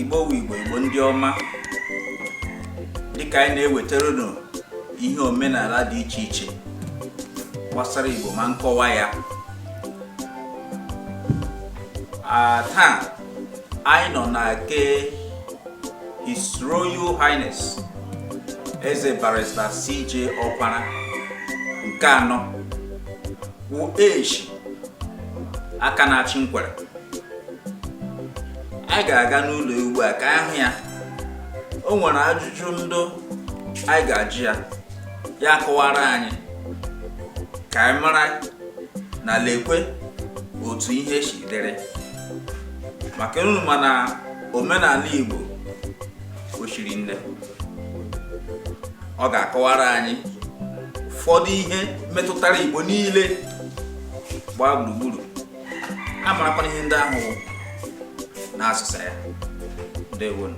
igbo wụ igbo igbo ndị ọma dịka anyị na-ewetara unu ihe omenala dị iche iche gbasara igbo ma nkọwa ya taa anyị nọ na ke His Royal Highness Eze Barrister CJ Ọkwara nke anọ wụ Eshi aka na-achị Nkwere anyị ga-aga n'ụlọ ugbu a ka a hụ ya o nwere ajụjụ ndụ anyị ga-ajụ ya ya kọwara anyị ka anyị mara na lekwe otu ihe si dịrị maka unu ma na omenala Igbo o shiri nne ọ ga-akọwara anyị ụfọdụ ihe metụtara Igbo niile gbaa gburugburu a marakwana ihe ndị ahụ n'asụsụ ya ndewonu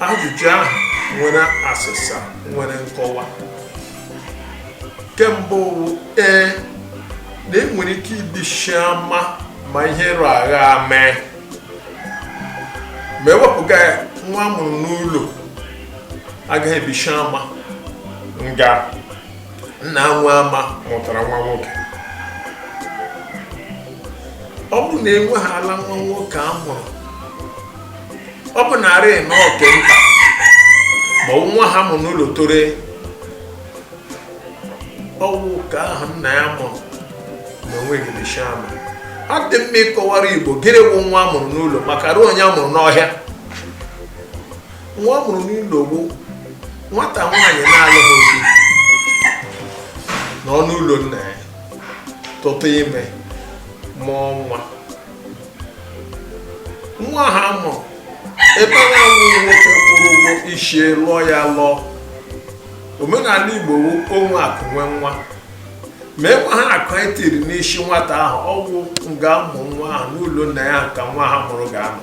Ajụjụ ahụ nwere asịsa nwere nkọwa. Ke mbụ ee na enwere ike ibishi ama ma ihe rụ agha mee ma ewepụga ya nwa a mụrụ n'ụlọ agaghị ebishi ama nga nna nwe ama mụtara nwa nwoke ọ bụrụ na enwehaala nwa nwoke a mụrụ ọ bụ narị na ọ ke nta ma nwa a mụ n'ụlọ tore ọ wụ ka ahụ nna ya mụrụ na onwe ga-ebishi ama ọ dị mma ịkọwara igbo gịnị bụ nwa amụrụ n'ụlọ maka ruo onye amụrụ n'ọhịa nwa amụrụ n'ụlọ bụ nwata nwaanyị na-alụghị di nọ n'ụlọ nna ya tụtụ ime mụọ nwa nwa ha mụ ebe na-enwe nwoke kwụrụ ụgwọ ishi ya lụọ ya lụọ omenala igbo wụ o nwe akụ nwe nwa ma enwe ha akụ e tiri n'isi nwata ahụ ọ wụ nga a mụ nwa ahụ n'ụlọ nna ya ka nwa ha mụrụ ga-anọ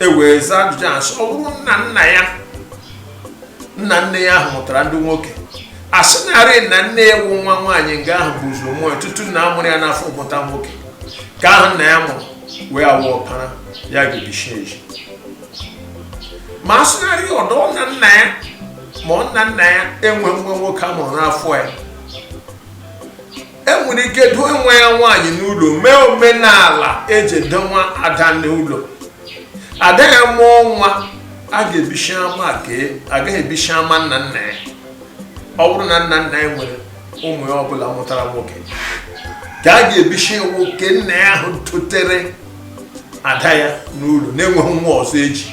e wee zaa ajụjụ a sị ọ bụrụ nna nna ya nna nne ya ahụ mụtara ndị nwoke a sị narị na nne ya wụ nwa nwaanyị nga ahụ bu ụzọ mụọ nwa tutu nna mụrụ ya n'afọ mụta nwoke ka ahụ nna ya mụrụ wee awụ ọkwara ya ga-ebishi ezi ma a sịnarị ọdọ na nna ya ma ọ nna nna ya enwe nwa nwoke a mụrụ n'afọ ya enwere ike doo nwa ya nwaanyị n'ụlọ mee omenala eji edowa ada n'ụlọ ada ya mụọ nwa a ga-ebishi ama agaghị ebishi ama nna nna ya ọ bụrụ na nna nna ya nwere ụmụ ya ọbụla mụtara nwoke ka a ga-ebishi nwoke nna ya ahụ dotere ada ya n'ụlọ na-enweghị nwa ọzọ eji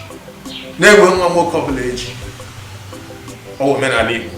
na-enweghị nwa nwoke ọbụla eji ọ bụ omenala Igbo